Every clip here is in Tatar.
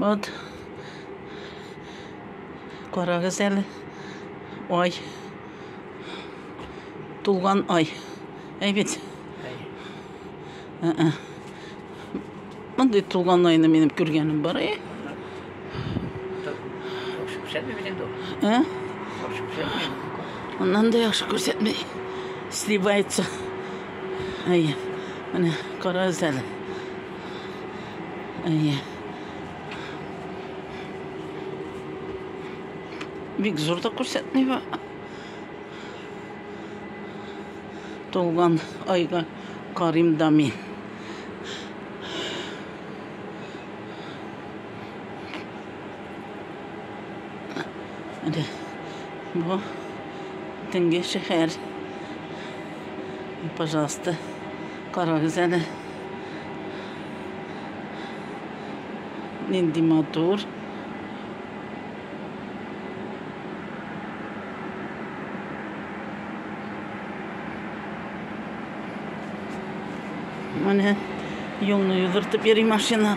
Вот. Карагыз әле. Ай. Тулган ай. Әй бит. Ә-ә. Мондый тулган айны минем күргәнем бар, әй. Ә? Аннан да яхшы күрсәтмей. Сливается. Әй. Менә карагыз әле. Әйе. Бик зур да күрсәтми бу. Тулган айга карим да мин. Әде, бу тенге шәһәр. Пожалуйста, карагыз әле. Нинди матур. Менә юлны йөгертеп йөри машина.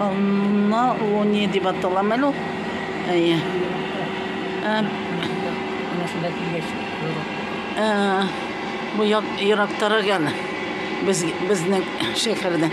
Анна ул не дип аталам әле ул. Әйе. Ә, Машина килгәч, юру. ә, бу як, ерактарак яны. Без, безнең шәһәрдән.